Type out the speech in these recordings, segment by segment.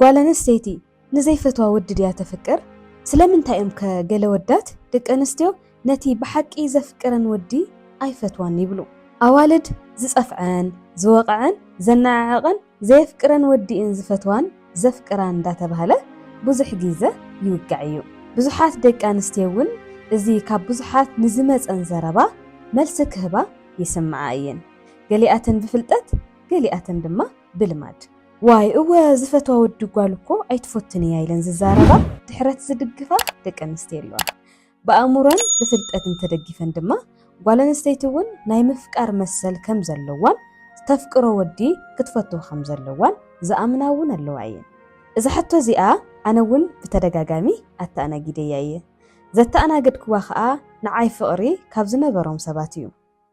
ጓል ኣንስተይቲ ንዘይፈትዋ ወዲ ድያ ተፍቅር? ስለምንታይ እዮም ከ ገለ ወዳት ደቂ ኣንስትዮ ነቲ ብሓቂ ዘፍቅረን ወዲ ኣይፈትዋን ይብሉ? ኣዋልድ ዝጸፍዐን፣ ዝወቐዐን፣ ዘነዓዕቐን፣ ዘየፍቅረን ወዲ እየን ዝፈትዋን ዘፍቅራን እንዳተባህለ ብዙሕ ጊዘ ይውጋዕ እዩ። ብዙሓት ደቂ ኣንስትዮ እውን እዚ ካብ ብዙሓት ንዝመጸን ዘረባ መልሲ ክህባ ይስምዓ እየን። ገሊኣተን ብፍልጠት ገሊኣተን ድማ ብልማድ። ዋይ እወ ዝፈትዋ ወዲ ጓል እኮ ኣይትፎትን እያ ኢለን ዝዛረባ ድሕረት ዝድግፋ ደቂ ኣንስትዮ ኣለዋ። ብኣእምሮን ብፍልጠትን ተደጊፈን ድማ ጓል ኣንስተይቲ እውን ናይ ምፍቃር መሰል ከም ዘለዋን ዝተፍቅሮ ወዲ ክትፈቱ ከም ዘለዋን ዝኣምና እውን ኣለዋ እየን። እዛ ሕቶ እዚኣ ኣነ እውን ብተደጋጋሚ ኣተኣናጊደያ እየ። ዘተኣናገድክዋ ከኣ ንዓይ ፍቕሪ ካብ ዝነበሮም ሰባት እዩ።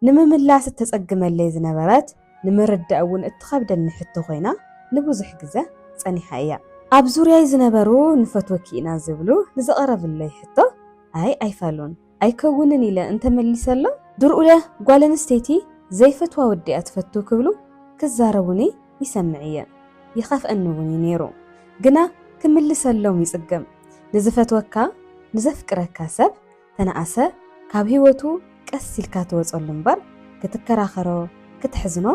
ንምምላስ እተጸግመለይ ዝነበረት፣ ንምርዳእ እውን እትኸብደኒ ሕቶ ዀይና ንብዙሕ ግዘ ጸኒሓ እያ። ኣብ ዙርያይ ዝነበሩ ንፈትወኪ ኢና ዝብሉ ንዝቐረብለይ ሕቶ ኣይ ኣይፋሉን፣ ኣይከውንን ኢለ እንተ መሊሰሎም፣ ድርኡለ ጓል ኣንስተይቲ ዘይፈትዋ ወዲ እያ ትፈቱ ክብሉ ክዛረቡኒ ይሰምዕ እየ፣ ይኸፍኣኒ እውን እዩ ነይሩ። ግና ክምልሰሎም ይጽገም። ንዝፈትወካ፣ ንዘፍቅረካ ሰብ ተነኣሰ ካብ ሂወቱ ቀስ ኢልካ ትወጸሉ እምበር ክትከራኸሮ ክትሕዝኖ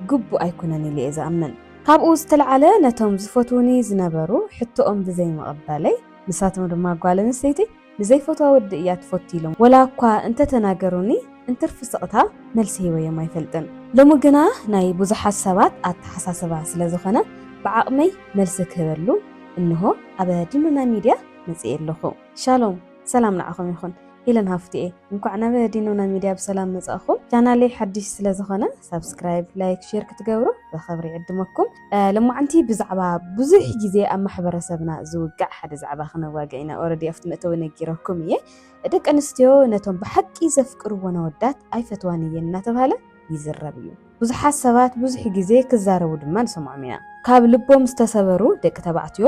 ግቡእ ኣይኩነን ኢሊ'የ ዝኣምን። ካብኡ ዝተልዓለ ነቶም ዝፈትዉኒ ዝነበሩ ሕቶኦም ብዘይ ምቕባለይ ንሳቶም ድማ ጓል ኣንስተይቲ ንዘይፈትዋ ወዲ እያ ትፈቱ ኢሎም ወላ እኳ እንተተናገሩኒ እንትርፊ ስቕታ መልሲ ሂበዮም ኣይፈልጥን። ሎሚ ግና ናይ ብዙሓት ሰባት ኣተሓሳስባ ስለ ዝኾነ ብዓቕመይ መልሲ ክህበሉ እንሆ ኣብ ድኑና ሚድያ መጺኤ ኣለኹ። ሻሎም! ሰላም ንዓኹም ይኹን ሂለን ሃፍትኤ እንኳዕ ናብ ዲኖና ሚድያ ብሰላም መጻእኹም ቻናለይ ሓድሽ ስለ ዝኾነ ሳብስክራይብ ላይክ ሼር ክትገብሩ ብኸብሪ ዕድመኩም ልማዓንቲ ብዛዕባ ብዙሕ ግዜ ኣብ ማሕበረሰብና ዝውጋዕ ሓደ ዛዕባ ክነዋግዕ ኢና ኦረዲ ኣብቲ መእተዊ ነጊረኩም እየ ደቂ ኣንስትዮ ነቶም ብሓቂ ዘፍቅርዎ ነወዳት ኣይፈትዋን እየን እናተባሃለ ይዝረብ እዩ ብዙሓት ሰባት ብዙሕ ግዜ ክዛረቡ ድማ ንሰምዖም ኢና ካብ ልቦም ዝተሰበሩ ደቂ ተባዕትዮ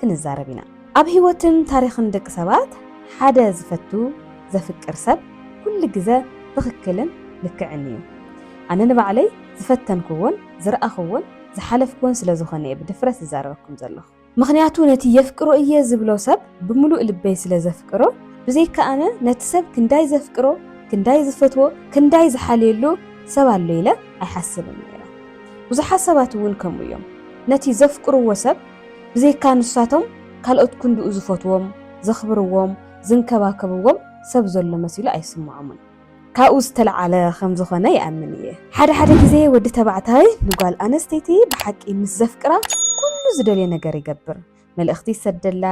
ክንዛረብ ኢና። ኣብ ህይወትን ታሪኽን ደቂ ሰባት ሓደ ዝፈቱ፣ ዘፍቅር ሰብ ኩሉ ግዘ ትኽክልን ልክዕን እዩ። ኣነ ንባዕለይ ዝፈተንክዎን ዝረኣኽዎን ዝሓለፍክዎን ስለ ዝኾነ እየ ብድፍረት ዝዛረበኩም ዘለኹ። ምኽንያቱ ነቲ የፍቅሮ እየ ዝብሎ ሰብ ብምሉእ ልበይ ስለ ዘፍቅሮ፣ ብዘይካ ኣነ ነቲ ሰብ ክንዳይ ዘፍቅሮ፣ ክንዳይ ዝፈትዎ፣ ክንዳይ ዝሓልየሉ ሰብ ኣሎ ኢለ ኣይሓስብን ነይረ። ብዙሓት ሰባት እውን ከምኡ እዮም። ነቲ ዘፍቅርዎ ሰብ ብዘይካ ንሳቶም ካልኦት ክንድኡ ዝፈትዎም፣ ዘኽብርዎም፣ ዝንከባከብዎም ሰብ ዘሎ መሲሉ ኣይስምዖምን። ካብኡ ዝተልዓለ ከም ዝኾነ ይኣምን እየ። ሓደ ሓደ ግዜ ወዲ ተባዕታይ ንጓል ኣነስተይቲ ብሓቂ ምስ ዘፍቅራ ኩሉ ዝደልዮ ነገር ይገብር። መልእኽቲ ይሰደላ፣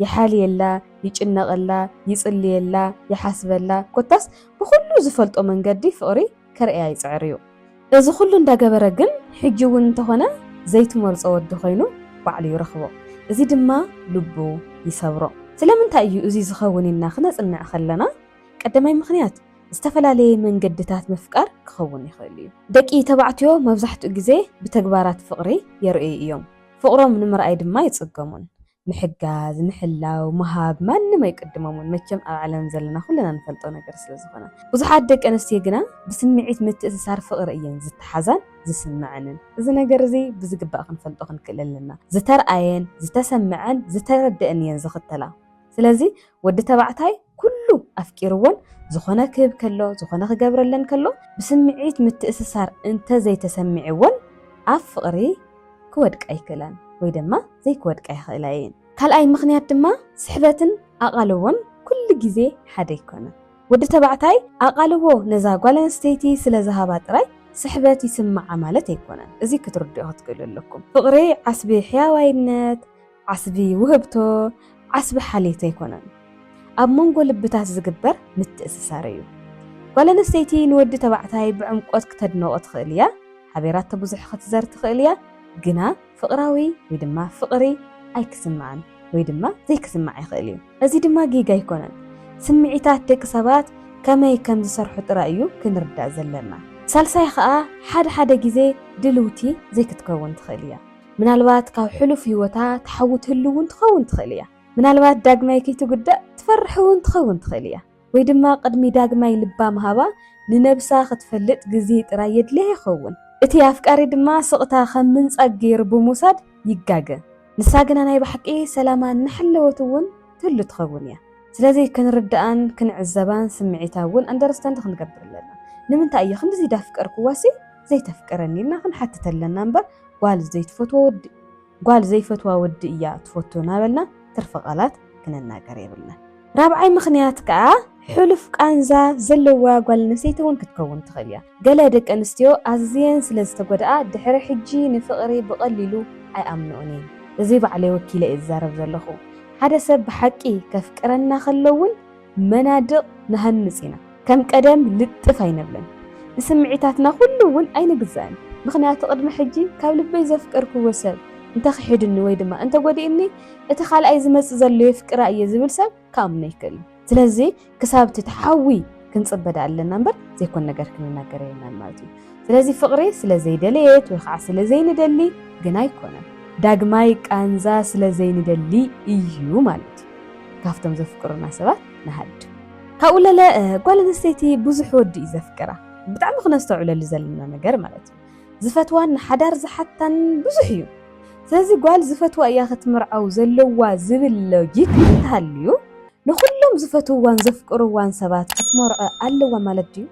ይሓልየላ፣ ይጭነቐላ፣ ይጽልየላ፣ ይሓስበላ ኮታስ ብኹሉ ዝፈልጦ መንገዲ ፍቕሪ ከርእያ ይጽዕር እዩ። እዚ ኩሉ እንዳገበረ ግን ሕጂ እውን እንተኾነ ዘይትመርጾ ወዲ ኮይኑ ባዕሉ ይረኽቦ። እዚ ድማ ልቡ ይሰብሮ። ስለምንታይ እዩ እዚ ዝኸውን ኢልና ክነጽንዕ ከለና ቀዳማይ ምኽንያት ዝተፈላለየ መንገድታት ምፍቃር ክኸውን ይኽእል እዩ። ደቂ ተባዕትዮ መብዛሕትኡ ግዜ ብተግባራት ፍቕሪ የርእዩ እዮም። ፍቕሮም ንምርኣይ ድማ ኣይጽገሙን። ምሕጋዝ ምሕላው ምሃብ ማንም ኣይቅድሞምን መቸም ኣብ ዓለም ዘለና ኩልና ንፈልጦ ነገር ስለ ዝኾነ ብዙሓት ደቂ ኣንስትዮ ግና ብስምዒት ምትእስሳር ፍቕሪ እየን ዝተሓዛን ዝስመዐንን እዚ ነገር እዚ ብዝግባእ ክንፈልጦ ክንክእል ኣለና ዝተርኣየን ዝተሰመዐን ዝተረደእን እየን ዝኽተላ ስለዚ ወዲ ተባዕታይ ኩሉ ኣፍቂርዎን ዝኾነ ክህብ ከሎ ዝኾነ ክገብረለን ከሎ ብስምዒት ምትእስሳር እንተዘይተሰሚዕዎን ኣብ ፍቕሪ ክወድቃ ኣይክእላን ወይ ደማ ዘይክወድቃ ይኽእላ እየን። ካልኣይ ምኽንያት ድማ ስሕበትን ኣቓልቦን ኩሉ ግዜ ሓደ ኣይኮነን። ወዲ ተባዕታይ ኣቓልቦ ነዛ ጓል ኣንስተይቲ ስለ ዝሃባ ጥራይ ስሕበት ይስምዓ ማለት ኣይኮነን። እዚ ክትርድኡ ክትክእሉ ኣለኩም። ፍቕሪ ዓስቢ ሕያዋይነት፣ ዓስቢ ውህብቶ ዓስቢ ሓልየት ኣይኮነን፣ ኣብ መንጎ ልብታት ዝግበር ምትእስሳር እዩ። ጓል ኣንስተይቲ ንወዲ ተባዕታይ ብዕምቆት ክተድንቖ ትኽእል እያ፣ ሓቤራቶ ብዙሕ ክትዘር ትኽእል እያ፣ ግና ፍቕራዊ ወይ ድማ ፍቕሪ ኣይክስምዓን ወይ ድማ ዘይክስምዓ ይኽእል እዩ። እዚ ድማ ጌጋ ኣይኮነን፣ ስምዒታት ደቂ ሰባት ከመይ ከም ዝሰርሑ ጥራይ እዩ ክንርዳእ ዘለና። ሳልሳይ ኸኣ፣ ሓደ ሓደ ግዜ ድልውቲ ዘይክትከውን ትኽእል እያ። ምናልባት ካብ ሕሉፍ ህይወታ ትሓዊ ትህሉ እውን ትኸውን ትኽእል እያ። ምናልባት ዳግማይ ከይትጉዳእ ትፈርሕ እውን ትኸውን ትኽእል እያ። ወይ ድማ ቅድሚ ዳግማይ ልባ ምሃባ ንነብሳ ክትፈልጥ ግዜ ጥራይ የድልያ ይኸውን። እቲ ኣፍቃሪ ድማ ስቕታ ከም ምንጻግ ገይሩ ብምውሳድ ይጋገ። ንሳ ግና ናይ ብሓቂ ሰላማ እናሓለወት እውን ትህሉ ትኸውን እያ። ስለዚ ክንርድኣን ክንዕዘባን ስምዒታ እውን ኣንደርስታንድ ክንገብር ኣለና። ንምንታይ እየ ክንድዚ ዳፍቀርኩዋሲ ዘይተፍቅረኒ ኢልና ክንሓትት ኣለና እምበር ጓል ዘይትፈትዎ ወዲ ጓል ዘይፈትዋ ወዲ እያ ትፈቱ ናበልና ትርፊ ቃላት ክንናገር የብልናን። ራብዓይ ምኽንያት ከኣ ሕሉፍ ቃንዛ ዘለዋ ጓል ኣንስተይቲ እውን ክትከውን ትኽእል እያ። ገለ ደቂ ኣንስትዮ ኣዝየን ስለ ዝተጎድኣ ድሕሪ ሕጂ ንፍቕሪ ብቐሊሉ ኣይኣምንኦን እየን። እዚ ባዕለይ ወኪለ እየ ዝዛረብ ዘለኹ። ሓደ ሰብ ብሓቂ ከፍቅረና ከሎ እውን፣ መናድቕ ንሃንጽ ኢና፣ ከም ቀደም ልጥፍ ኣይነብልን፣ ንስምዒታትና ኩሉ እውን ኣይንግዛእን፣ ምኽንያቱ ቅድሚ ሕጂ ካብ ልበይ ዘፍቀርክዎ ሰብ እንተ ኺሒዱኒ ወይ ድማ እንተ ጐዲኡኒ፣ እቲ ኻልኣይ ዚመጽእ ዘሎ የፍቅራ እየ ዚብል ሰብ ኪኣምኖ ኣይክእልን። ስለዚ፣ ክሳብ እቲ ትሓዊ ክንጽበ ደኣ ኣለና እምበር፣ ዘይኰን ነገር ክንናገር የብልናን ማለት እዩ። ስለዚ ፍቕሪ ስለ ዘይደለየት ወይ ኸዓ ስለ ዘይንደሊ ግን ኣይኮነን። ዳግማይ ቃንዛ ስለ ዘይንደሊ እዩ ማለት እዩ ካብቶም ዘፍቅሩና ሰባት ንሃድም። ካብኡ ለለ ጓል ኣንስተይቲ ብዙሕ ወዲ እዩ ዘፍቅራ። ብጣዕሚ ክነስተውዕለሉ ዘለና ነገር ማለት እዩ። ዝፈትዋን ንሓዳር ዝሓታን ብዙሕ እዩ። ስለዚ ጓል ዝፈትዋ እያ ክትምርዓው ዘለዋ ዝብል ሎጂክ እንተሃልዩ ንኹሎም ዝፈትውዋን ዘፍቅርዋን ሰባት ክትመርዖ ኣለዋ ማለት ድዩ?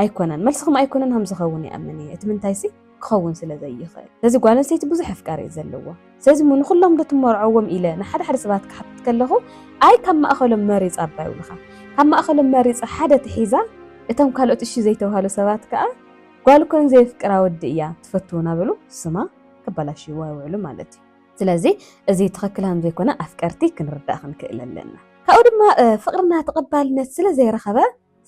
ኣይኮነን መልስኹም ኣይኮነን ሃም ዝኸውን ይኣምን እየ እቲ ምንታይሲ ክኸውን ስለ ዘይኽእል ስለዚ ጓል ኣንስተይቲ ብዙሕ ኣፍቃሪ እዩ ዘለዎ ስለዚ እሞ ንኹሎም ዶ ትመርዖዎም ኢለ ንሓደ ሓደ ሰባት ክሓትት ከለኹ ኣይ ካብ ማእኸሎም መሪፅ ኣባ ይብሉኻ ካብ ማእኸሎም መሪፃ ሓደ ትሒዛ እቶም ካልኦት እሺ ዘይተባሃሉ ሰባት ከዓ ጓል እኮ ንዘየፍቅራ ወዲ እያ ትፈቱ እናበሉ ስማ ከበላሽይዋ ይውዕሉ ማለት እዩ ስለዚ እዚ ትኽክል ሃም ዘይኮነ ኣፍቀርቲ ክንርዳእ ክንክእል ኣለና ካብኡ ድማ ፍቅርና ተቐባልነት ስለ ዘይረኸበ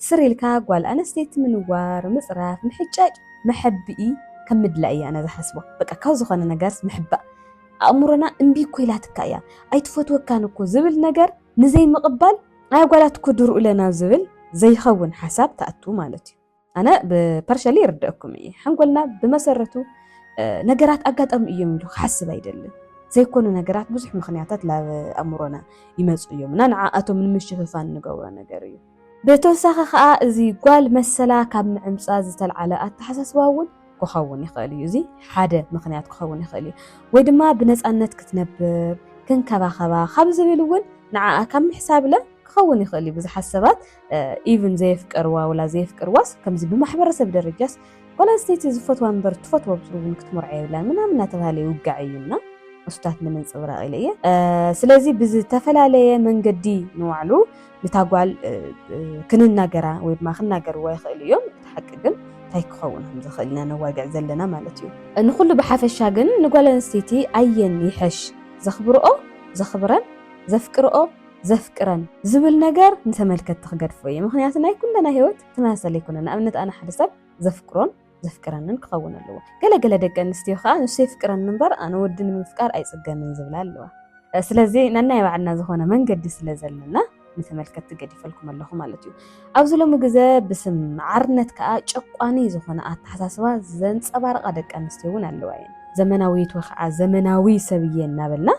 ስር ኢልካ ጓል ኣነስተይቲ ምንዋር ምፅራፍ ምሕጫጭ መሐብኢ ከም ምድላይ እያ ኣነ ዝሓስቦ በቃ ካብ ዝኾነ ነገርስ ምሕባእ ኣእምሮና እምቢ እኮ ኢላትካ እያ ኣይትፈትወካን እኮ ዝብል ነገር ንዘይምቕባል ኣይ ጓላት እኮ ድርኡ ለናብ ዝብል ዘይኸውን ሓሳብ ትኣቱ ማለት እዩ ኣነ ብፐርሸሊ ይርደአኩም እየ ሓንጎልና ብመሰረቱ ነገራት ኣጋጣሚ እዮም ኢሉ ክሓስብ ኣይደልን ዘይኮኑ ነገራት ብዙሕ ምክንያታት ናብ ኣእምሮና ይመፁ እዮም እና ንዓኣቶም ንምሽፍፋን ንገብሮ ነገር እዩ ብተወሳኺ ከኣ እዚ ጓል መሰላ ካብ ምዕምጻ ዝተልዓለ ኣተሓሳስባ እውን ክኸውን ይኽእል እዩ። እዚ ሓደ ምኽንያት ክኸውን ይኽእል እዩ። ወይ ድማ ብነጻነት ክትነብር፣ ክንከባኸባ ካብ ዝብል እውን ንዓኣ ካብ ምሕሳብለ ክኸውን ይኽእል እዩ። ብዙሓት ሰባት ኢቭን ዘየፍቀርዋ ወላ ዘየፍቅርዋስ ከምዚ ብማሕበረሰብ ደረጃስ ጓል ኣንስተይቲ ዝፈትዋ እምበር ትፈትዎ ብስሩ እውን ክትምርዖ የብላን ምናምን እናተባህለ ይውጋዕ እዩ እና እሱታት ንምንጽብራቕ ኢለ እየ። ስለዚ ብዝተፈላለየ መንገዲ ንባዕሉ ንታ ጓል ክንናገራ ወይ ድማ ክናገርዋ ይኽእሉ እዮም እቲ ሓቂ ግን እንታይ ክኸውን ከም ዝኽእል ኢና ነዋግዕ ዘለና ማለት እዩ ንኹሉ ብሓፈሻ ግን ንጓል ኣንስተይቲ ኣየን ይሐሽ ዘኽብርኦ ዘኽብረን ዘፍቅርኦ ዘፍቅረን ዝብል ነገር ንተመልከትቲ ክገድፎ እየ ምኽንያቱ ናይ ኩለና ህይወት ተመሳሳሊ ኣይኮነን ንኣብነት ኣነ ሓደ ሰብ ዘፍቅሮን ዘፍቅረንን ክኸውን ኣለዎ። ገለ ገለ ደቂ ኣንስትዮ ከዓ ንሱ የፍቅረኒ እምበር ኣነ ወዲ ንምፍቃር ኣይፅገምን ዝብላ ኣለዋ። ስለዚ ነናይ ባዕልና ዝኾነ መንገዲ ስለ ዘለና ንተመልከትቲ ገዲፈልኩም ኣለኹ ማለት እዩ። ኣብዚ ሎሚ ግዘ ብስም ማዕርነት ከዓ ጨቋኒ ዝኾነ ኣተሓሳስባ ዘንፀባርቓ ደቂ ኣንስትዮ እውን ኣለዋ እየን። ዘመናዊት ወይ ከዓ ዘመናዊ ሰብ እየ እናበልና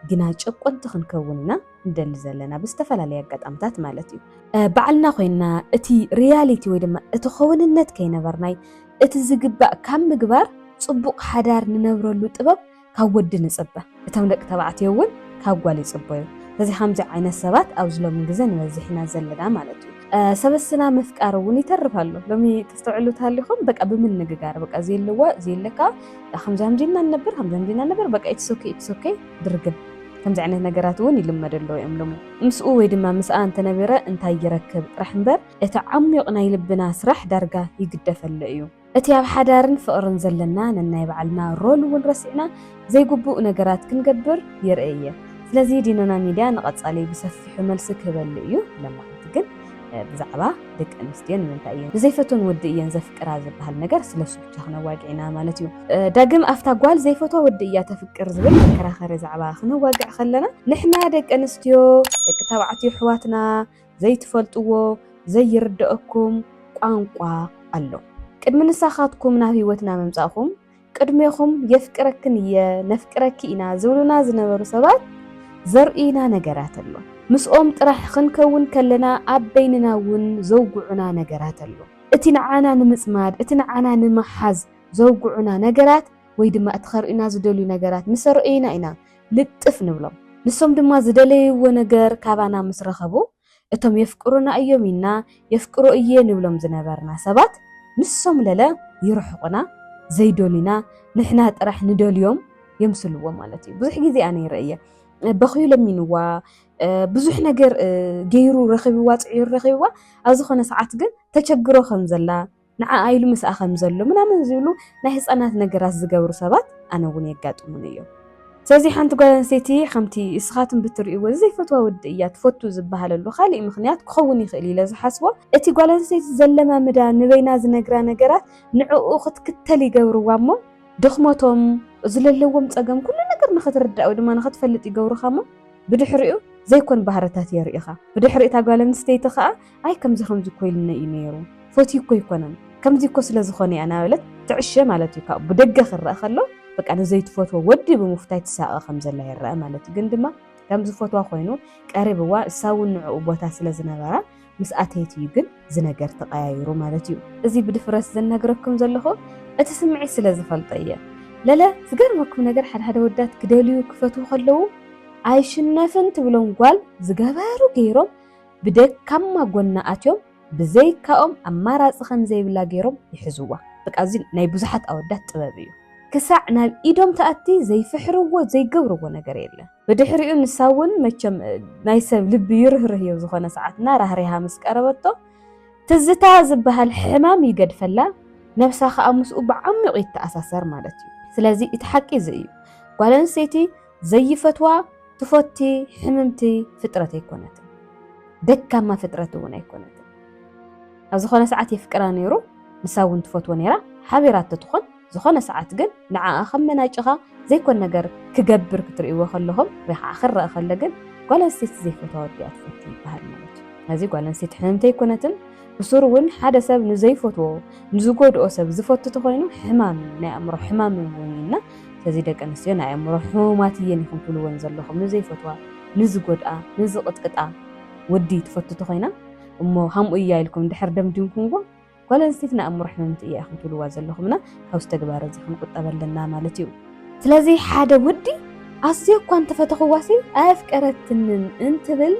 ግና ጨቆንቲ ክንከውን ኢና። ንደሊ ዘለና ብዝተፈላለየ ኣጋጣምታት ማለት እዩ ባዕልና ኮይና እቲ ሪያሊቲ ወይ ድማ እቲ ከውንነት ከይነበርናይ እቲ ዝግባእ ካብ ምግባር ጽቡቕ ሓዳር ንነብረሉ ጥበብ ካብ ወዲ ንጽበ እቶም ደቂ ተባዕትዮ እውን ካብ ጓል ይጽበዩ ስለዚ ከምዚ ዓይነት ሰባት ኣብዚ ሎሚ ግዜ ንበዝሕ ኢና ዘለና ማለት እዩ ሰበስና ምፍቃር እውን ይተርፍ ኣሎ ሎሚ ተስተውዕሉ ተሃሊኹም በቃ ብምንግጋር በቃ ዘየለዋ ዘየለካ ከምዚ ከምዚ ኢና ንነብር ከምዚ ከምዚ ኢና ንነብር በቃ ኢትሶኬ ኢትሶኬ ድርግም ከምዚ ዓይነት ነገራት እውን ይልመድ ኣሎ እዮም ሎሚ። ምስኡ ወይ ድማ ምስኣ እንተነቢረ እንታይ ይረክብ ጥራሕ እምበር እቲ ዓሚዩቕ ናይ ልብና ስራሕ ዳርጋ ይግደፍ ኣሎ እዩ። እቲ ኣብ ሓዳርን ፍቕርን ዘለና ነናይ ባዕልና ሮል እውን ረሲዕና ዘይግቡእ ነገራት ክንገብር ይርእ እየ። ስለዚ ዲኖና ሚድያ ንቐፃሊ ብሰፊሑ መልሲ ክህበሉ እዩ። ለማዓንቲ ግን ብዛዕባ ደቂ ኣንስትዮ ንምንታይ እየን ዘይፈትወን ወዲ እየን ዘፍቅራ ዝበሃል ነገር ስለ ክነዋግዒና ማለት እዩ ዳግም ኣብታ ጓል ዘይፈትዋ ወዲ እያ ተፍቅር ዝብል መከራኸሪ ዛዕባ ክነዋግዕ ከለና ንሕና ደቂ ኣንስትዮ ደቂ ተባዕትዮ ኣሕዋትና ዘይትፈልጥዎ ዘይርደአኩም ቋንቋ ኣሎ ቅድሚ ንሳኻትኩም ናብ ህይወትና ምምፃእኹም ቅድሜኹም የፍቅረክን እየ ነፍቅረኪ ኢና ዝብሉና ዝነበሩ ሰባት ዘርእዩና ነገራት ኣሎ ምስኦም ጥራሕ ክንከውን ከለና ኣብ በይንና እውን ዘውግዑና ነገራት ኣሎ እቲ ንዓና ንምጽማድ፣ እቲ ንዓና ንምሓዝ ዘውግዑና ነገራት ወይ ድማ እቲ ከርእዩና ዝደልዩ ነገራት ምስ ኣረእዩና ኢና ልጥፍ ንብሎም። ንሶም ድማ ዝደለይዎ ነገር ካባና ምስ ረኸቡ፣ እቶም የፍቅሩና እዮም ኢልና የፍቅሮ እየ ንብሎም ዝነበርና ሰባት ንሶም ለለ ይርሕቑና፣ ዘይደልዩና ንሕና ጥራሕ ንደልዮም የምስልዎም ማለት እዩ። ብዙሕ ግዜ ኣነ ይርኢ እየ። በኽዩ ለሚንዋ፣ ብዙሕ ነገር ገይሩ ረኺብዋ ፅዒሩ ረኺብዋ ኣብ ዝኾነ ሰዓት ግን ተቸግሮ ከም ዘላ ንዓኣ ኢሉ ምስኣ ከም ዘሎ ምናምን ዝብሉ ናይ ህፃናት ነገራት ዝገብሩ ሰባት ኣነ እውን የጋጥሙን እዮም ስለዚ ሓንቲ ጓል ኣንስተይቲ ከምቲ እስኻትም ብትርእይዎ ዘይፈትዋ ወዲ እያ ትፈቱ ዝበሃለሉ ካሊእ ምክንያት ክኸውን ይኽእል ኢለ ዝሓስቦ እቲ ጓል ኣንስተይቲ ዘለማምዳ ንበይና ዝነግራ ነገራት ንዕኡ ክትክተል ይገብርዋ እሞ ድኽመቶም ዝለለዎም ፀገም ኩሉ ነገር ንክትርዳእ ወይ ድማ ንክትፈልጥ ይገብሩኻ እሞ ብድሕሪኡ ዘይኮን ባህርታት የርእኻ ብድሕሪ እታ ጓል ኣንስተይቲ ከኣ ኣይ ከምዚ ከምዚ እኮ ኢሉኒ እዩ ነይሩ ፈትዩ እኮ ኣይኮነን ከምዚ እኮ ስለ ዝኾነ እያ እናበለት ትዕሸ ማለት እዩ ካብኡ ብደገ ክረኣ ከሎ በቃ ንዘይትፈትዎ ወዲ ብምፍታይ ትሳቐ ከም ዘላ ይረኣ ማለት እዩ ግን ድማ ከም ዝፈትዋ ኮይኑ ቀሪብዋ እሳ እውን ንዕኡ ቦታ ስለ ዝነበራ ምስ ኣተየት እዩ ግን ዝነገር ተቀያይሩ ማለት እዩ። እዚ ብድፍረት ዝነግረኩም ዘለኹ እቲ ስምዒት ስለ ዝፈልጦ እየ። ለለ ዝገርመኩም ነገር ሓደ ሓደ ወዳት ክደልዩ ክፈትዉ ከለዉ ኣይሽነፍን ትብሎም ጓል ዝገበሩ ገይሮም ብደካማ ጎና ኣትዮም ብዘይካኦም ኣማራጺ ከም ዘይብላ ገይሮም ይሕዝዋ። በቃ እዚ ናይ ብዙሓት ኣወዳት ጥበብ እዩ። ክሳዕ ናብ ኢዶም ትኣቲ ዘይፍሕርዎ ዘይገብርዎ ነገር የለን። ብድሕሪኡ ንሳ እውን መቸም ናይ ሰብ ልቢ ይርህርህ እዮ ዝኾነ ሰዓት እና ራህሪሃ ምስ ቀረበቶ ትዝታ ዝበሃል ሕማም ይገድፈላ ነብሳ ከዓ ምስኡ ብዓሚቑ ይተኣሳሰር ማለት እዩ። ስለዚ እቲ ሓቂ እዚ እዩ ጓል ኣንስተይቲ ዘይፈትዋ ትፈቲ ሕምምቲ ፍጥረት ኣይኮነትን ደካማ ፍጥረት እውን ኣይኮነትን። ኣብ ዝኾነ ሰዓት የፍቅራ ነይሩ ንሳ እውን ትፈትዎ ነይራ ሓቢራቶ ትኾን ዝኾነ ሰዓት ግን ንዓኣ ከም መናጭኻ ዘይኮን ነገር ክገብር ክትርእይዎ ከለኹም ወይ ከዓ ክረኣ ከሎ ግን ጓል ኣንስተይቲ ዘይፈትዋ ወዲ እያ ትፈቱ ይበሃል ማለት እዩ። ስለዚ ጓል ኣንስተይቲ ሕምምቲ ኣይኮነትን። ብሱሩ እውን ሓደ ሰብ ንዘይፈትዎ ንዝጎድኦ ሰብ ዝፈቱ ተኾይኑ ሕማም እዩ፣ ናይ ኣእምሮ ሕማም እውን እዩ እና ስለዚ ደቂ ኣንስትዮ ናይ ኣእምሮ ሕሙማት እየን ኢኹም ትብልወን ዘለኹም ንዘይፈትዋ ንዝጎድኣ ንዝቕጥቅጣ ወዲ ትፈቱ ተኾይና እሞ ሃምኡ እያ ኢልኩም እንድሕር ደምዲምኩምዎ ጓል ኣንስተይቲ ንኣእምሮ ሕምምቲ እያ ኢኹም ትብልዋ ዘለኹም እና ካብዚ ተግባር እዚ ክንቁጠብ ኣለና ማለት እዩ። ስለዚ ሓደ ወዲ ኣዝየ እኳ እንተፈተኽዋሲ ኣየፍቀረትንን እንትብል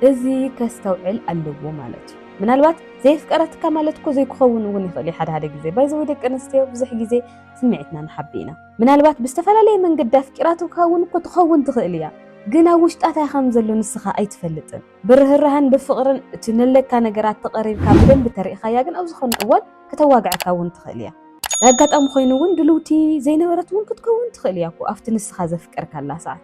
እዚ ከስተውዕል ኣለዎ ማለት እዩ። ምናልባት ዘየፍቀረትካ ማለት እኮ ዘይክኸውን እውን ይኽእል እዩ ሓደ ሓደ ግዜ ባይዘወይ ደቂ ኣንስትዮ ብዙሕ ግዜ ስምዒትና ንሓቢ ኢና። ምናልባት ብዝተፈላለየ መንገዲ ኣፍቂራትካ እውን እኮ ትኸውን ትኽእል እያ ግን ኣብ ውሽጣ እንታይ ከም ዘሎ ንስኻ ኣይትፈልጥን። ብርህራሀን ብፍቕርን እቲ ነለካ ነገራት ተቐሪርካ ብደንቢ ተሪእኻያ ግን ኣብ ዝኾነ እዋን ከተዋግዐካ እውን ትኽእል እያ። ናይ ኣጋጣሚ ኮይኑ እውን ድልውቲ ዘይነበረት እውን ክትከውን ትኽእል እያ እኮ ኣብቲ ንስኻ ዘፍቀርካላ ሰዓት።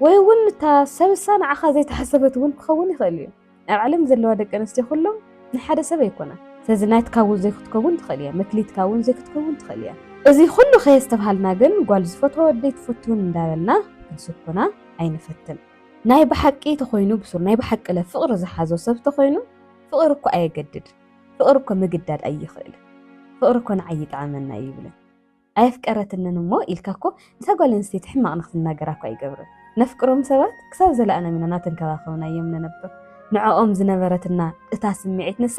ወይ እውን እታ ሰብሳ ንዓኻ ዘይተሓሰበት እውን ክኸውን ይኽእል እዩ። ኣብ ዓለም ዘለዋ ደቂ ኣንስትዮ ኩሎም ናይ ሓደ ሰብ ኣይኮናን። ስለዚ ናትካ እውን ዘይክትከውን ትኽእል እያ፣ መክሊትካ እውን ዘይክትከውን ትኽእል እያ። እዚ ኩሉ ከየስተብሃልና ግን ጓል ዝፈትዋ ወዲ ኣይትፈቱን እንዳበልና ክንስኩና ኣይንፈትን። ናይ ብሓቂ ተኾይኑ ብሱር ናይ ብሓቂ ለ ፍቕሪ ዝሓዞ ሰብ ተኾይኑ ፍቕሪ እኮ ኣየገድድ ፍቕሪ እኮ ምግዳድ ኣይኽእልን ፍቕሪ እኮ ንዓይ ይጥዓመና እዩ ይብለን ኣየፍቀረትንን እሞ ኢልካ እኮ ንታ ጓል ኣንስተይቲ ሕማቕ ንክትናገራ እኮ ኣይገብርን ነፍቅሮም ሰባት ክሳብ ዘለኣለም ኢና ናተንከባኸብና እዮም ንነብር ንዕኦም ዝነበረትና እታ ስምዒት ንሳ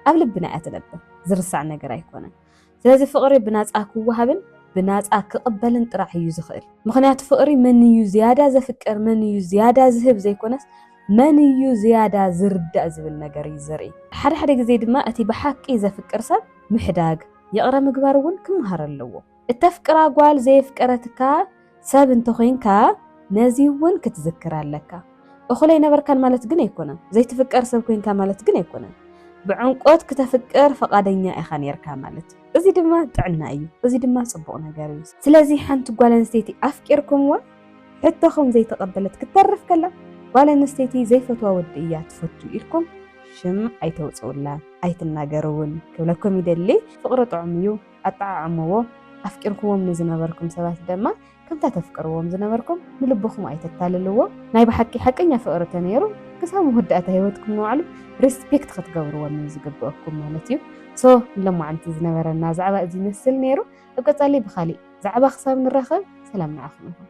ኣብ ልብና እያ ትነብር ዝርሳዕ ነገር ኣይኮነን ስለዚ ፍቕሪ ብናጻ ክወሃብን ብናጻ ክቕበልን ጥራሕ እዩ ዝኽእል። ምኽንያቱ ፍቕሪ መን እዩ ዝያዳ ዘፍቅር፣ መን እዩ ዝያዳ ዝህብ ዘይኮነስ፣ መን እዩ ዝያዳ ዝርዳእ ዝብል ነገር እዩ ዘርኢ። ሓደ ሓደ ግዜ ድማ እቲ ብሓቂ ዘፍቅር ሰብ ምሕዳግ፣ ይቕረ ምግባር እውን ክመሃር ኣለዎ። እተፍቅራ ጓል ዘየፍቀረትካ፣ ሰብ እንተ ዄንካ ነዚ እውን ክትዝክር ኣለካ። እኹል ኣይነበርካን ማለት ግን ኣይኰነን። ዘይትፍቀር ሰብ ኰንካ ማለት ግን ኣይኰነን። ብዕምቈት ክተፍቅር ፍቓደኛ ኢኻ ነይርካ ማለት እዩ። እዚ ድማ ጥዕና እዩ። እዚ ድማ ጽቡቕ ነገር እዩ። ስለዚ ሓንቲ ጓል ኣንስተይቲ ኣፍቂርኩምዋ ሕቶኹም ዘይተቐበለት ክትተርፍ ከላ ጓል ኣንስተይቲ ዘይፈትዋ ወዲ እያ ትፈቱ ኢልኩም ሽም ኣይተውጽኡላ፣ ኣይትናገሩ እውን ክብለኩም ይደሊ። ፍቕሪ ጥዑም እዩ። ኣጠዓዕምዎ፣ ኣፍቂርኩዎም ንዝነበርኩም ሰባት ደማ ከምታ ተፍቅርዎም ዝነበርኩም ንልብኹም ኣይተታልልዎ። ናይ ብሓቂ ሓቀኛ ፍቅሪ ተነይሩ ክሳብ መወዳእታ ሂወትኩም ንባዕሉ ሪስፔክት ክትገብርዎም እዩ ዝግበኣኩም ማለት እዩ። so ንሎማዓንቲ ዝነበረና ዛዕባ እዚ ይመስል ነይሩ ኣብ ቀፃሊ ብካሊእ ዛዕባ ክሳብ ንራኸብ ሰላም ንዓኹም ይኹን።